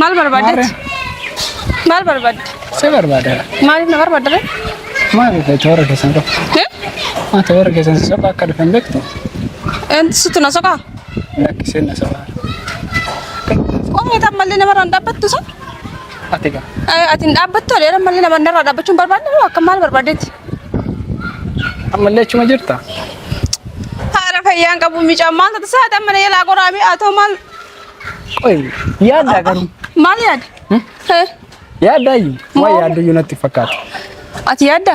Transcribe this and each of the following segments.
Maal barbaaddetti? Maal barbaadde? Si barbaada. Maaliif na barbaadda ree? Maal ta'e toora keessan qofa. Eh? Maa toora keessan si soqa akka dhufan beektu. Enti situ na soqaa? Lakki seenna soqa. Qomoo tan mallee namarraan dhaabbattu sun? Ati gaa. Eh, Ati hin dhaabbattu adeera malee nama narraa dhaabbachuun barbaadne moo akka maal barbaadetti? Ammallee achuma jirta. Haara fayyaan qabu micaa maal tata saati amma na jalaa qoraamee haa ta'u maal Qoy yaaddaa garuu. maal yaada? Eh, Yaaddaa iyyuu. Waa Maal? yaaddu iyyuu natti fakkaata. Ati yaadda?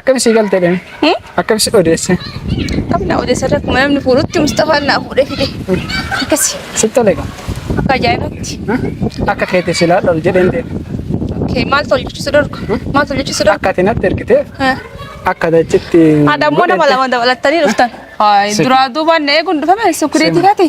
Akkami sii galte dheme? Hmm? Akkami si odeesse? Akkami na odeesse irra akkuma namni fuudhutti Mustafaan naa fuudhee fide. Akkasi. Si tole gaa. Akka ajaa'ibatti. Akka keetti si laadha ol jedheen deema. Okay, maal tol jechuusi dorgu? Hmm? Maal tol jechuusi dorgu? Akka ati natti ergitee akka dachitti. Haadha immoo nama lama dabalattanii dhuftan. Duraa duubaan na eeguun dhufame sukkureetii kaati.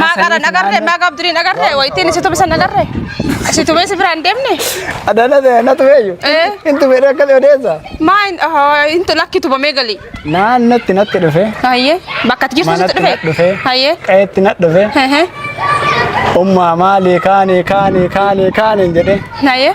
Maa qaran agarree maa gaabdiriin agarree waytiin si tubisan agarree si tubee si biraan deemne. Adana de na tubeyu. Eh. Intu bere kali odesa. Maa hin intu lakki tubamee gali. Na natti natti dhufe. Hayyee bakka ati jirtu sitti Manatti na dhufe. dhufe. Hayyee. Qayetti na dhufe. Hehe. Umma mali kani kani kani kani jedhe. Hayyee.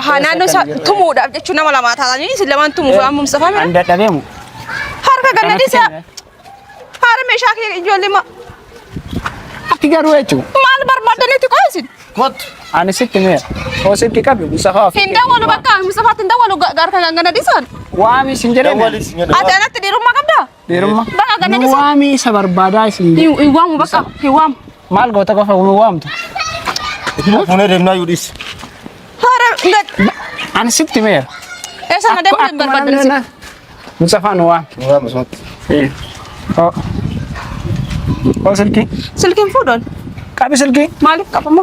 Ahaa naannoo isaa tumuudhaaf jechuun nama lamaa taatanii isin lamaan tumuuf waan mumsafame. An dadhabeemu. Harka ganna dhiisaa. Haara meeshaa kee ijoollee ma. Ati garuu jechuun. Maal barbaaddan itti qoysin? Kottu. Ani sitti meera. Koo sitti qabi Musafaa ofi. Hin dawwalu bakka Musafaatti hin dawwalu gaarka ganna dhiisaan. Waami isin jedhee. Ati anatti dhiirummaa qabdaa? Dhiirummaa. Baqa gadi Nu dhiisee. waamii isa barbaadaa isin Hin jedhu. hin waamu bakka hin waamu. Maal goota qofa nu waamtu? Itti fuunee deemnaa yoo dhiisi. Haara gad. Ani sitti meera. Eessa na deemuu hin barbaadan. Mucafaa nu waami. Nu waama sumatti. Oo. Oo silkii. Silkiin fuudhan. Qabi silkii. Maaliif qabama?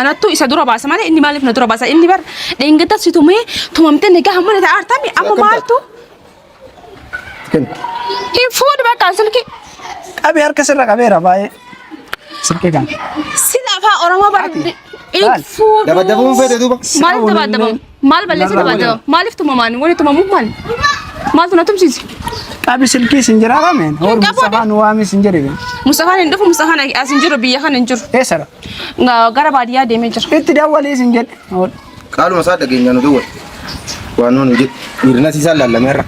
Anattu isa dura baasa malee inni maaliif na dura baasa inni bar dheengadda si tumee tumamtee nagaa hamma na ta'aartami amma Akkam maaltu Kenna. hin fuudhu bakka silki Qabee harka sirra qabeera baay'ee. Silkee kana. sila afaa oromoo bar Ati, hin maal? fuudhu. Dabaddabuun feete duuba. Maaliif dabaddabamu? Maal balleessee Narraa taphata? waliin. Maaliif tumamaan? Wani tumamuuf maali? Maaltu na tumsiise? Qabi silkii sin jira rameen. Hor Qabu Mustafaa nu waamee sin jedhe. Mustafaan hin dhufu, Mustafaan as hin jiru, biyya kana hin jiru. Eessara? Nga- Gara baadiyyaa deemee jira. Itti dawwalii sin jedhe. Hor. Qaaluma isaa dhageenya nu dawwal. Waan nuun hojjetu. Dhiirina siisaa laallameerra.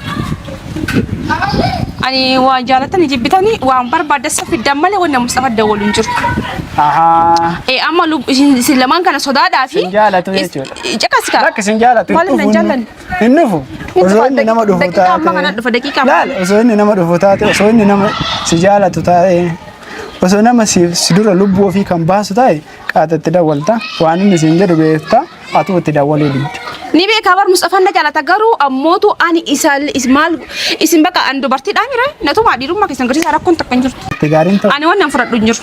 Ani waa jaalatanii jibbitanii waan barbaadessa fiddan malee wanna Mustafaa dawwalu hin jiru. Ahaa. Eh, amma lub- isin isin lamaan kana sodaadhaa fi Sin jaalatu jechuudha. Caqasi kaa. Lakki sin jaalatu. Maaliif hin na dhufu, jaallanne? Hin dhufu. Hin Osoo dhufa, inni nama dhufu daqiiqaa taate. amma kana dhufa, daqiiqaa amma Laal, kana. osoo inni nama dhufu taate, osoo inni nama si jaalatu taate, osoo nama si si dura lubbuu ofii kan baasu taate, qaata itti dawwalta. Waan inni siin jedhu beekta, atuu itti dawwaluu didda. Ni beekaa bar Mustafaan na jaalata garuu ammootu ani isa is- maal isin bakka an dubartiidhaa mira natumaa dhiirummaa keessan garsiisaa rakkoon takka hin jirtu. Itti gaariin ta'u. Ani waan nan fudhadhu hin jiru.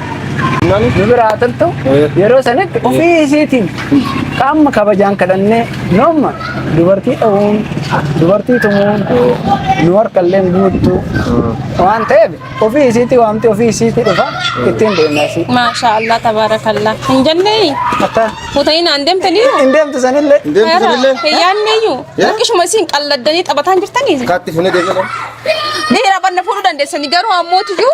nu bira haa turtu yeroo sanitti ofii isiitiin qaama kabajaan kadhannee noomma dubartii dhawuun dubartii tumuun nu harkallee guuttu waan ta'eef ofii isiitii waamti ofii isiitii dhufa ittiin deemna isii. Maashaa Allah tabaarakallah. Hin jennee Akka fuutanii naan deemtanii hin deemtu sanillee Deemtu sanillee. hin yaadneeyyuu Yaa? harkishuma isiin qalladdanii taphataan jirtanii. Kaatti funee deemee. Ni hirabanna fuudhuu dandeessanii garuu ammoo tuyyuu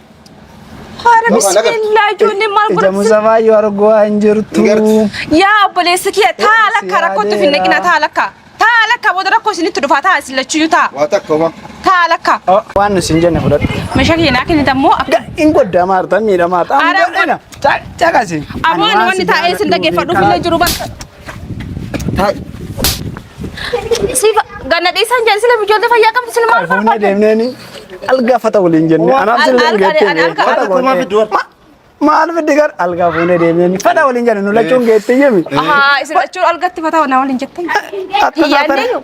Haara bismillaa ijoollee maal Ija godhatu? musafaa yoo argu waa hin jirtu. Yaa obboleessa kiyya taa lakka rakkootti of hin dhaqina taa lakka. Taa lakka booda rakkoo isinitti dhufa taa isin lachuyyuu taa. Waa takka homaa. Taa lakka. Oh, Waan nuti hin jenne fudhadhu. Meeshaa kiyya naa kennita immoo akka. Hin godda maarta miidhamaa ta'a. Aara Caqasi. Aboo ani wanni taa'ee isin dhaggeeffadhuuf illee jiru bakka. Taa'i. Si ganna dhiisan jedhe sila ijoollee fayyaa qabdu sila maal Fuunee barbaadde? deemneeni algaa fata waliin jenne. Anaaf sin Alga- geettee alga- alga- fata alga- waliin jenne. Maal fiddi gar algaa fuunee deemneeni fata waliin jenne nu lachuun geettee jemi. Ahaa isin lachuun algatti fataa na waliin jettee. Akka Hiyyaannee taatanii- yoo.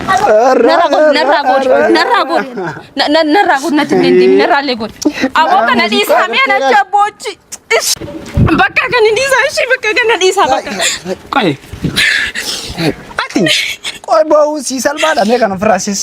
Narraa godhi, narraa godhi, narraa godhi. Na- na- Narraa godhi, natti hin deebiin, narraa illee godhi. Aboo kana dhiisaa mee na shabboochi. Ish. Bakka kana dhiisaa, ishii bakka kana dhiisaa bakka. Qoy. Ati qoy ba'uu sii salphaadha mee kan ofirraa siis.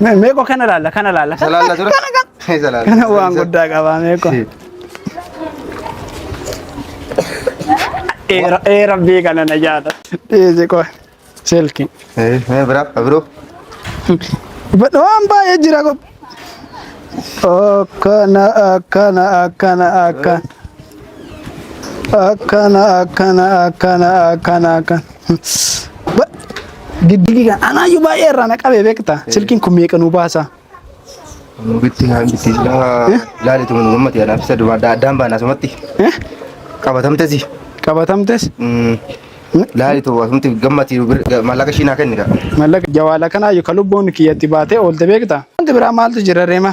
Me- Meeqoo kana laalla kana laalla kana Salaalla dura. kana kana. Hey, salaalla. Kana waan guddaa qabaa meeqoo. Ee ra- ee rabbii kana na jaata. Dhiisi qoy. Silki. Hey, hey, bira, abiroo. Badha waan baay'ee jira qoy. Akkana akkana akkana akkana. akkana akkana akkana akkana akkana Ba- diddigii kan anaayyuu baay'ee irraa na qabee beekta silkiin kun meeqa nuu baasa Bitti kaan bitti laali tumu gammati anaaf isa dumaa addaan baana asumatti Eh? qabatamtesi. qabatamtes Laali tumu asumatti gammati maallaqa ishiin haa kenni kaa. mallaqa jawaala kanaayyuu ka lubbuun kiyyatti baatee oolte beekta wanti biraa maaltu jira reema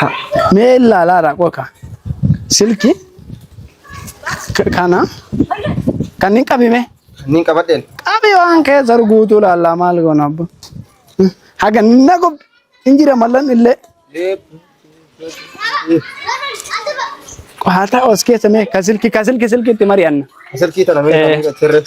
Ha, Mee ilaalaa raaqoo ka. Silki k- kana kan hin qabime. Niin qabadheen. Qabi waan keessa ruguutuu laallaa maal goona abbo. Haga na gob hin jira mallan illee. Qohaata os keessa mee ka silki ka silki silkitti mari'anna. Silkii tana mee Eh. kan sirreef.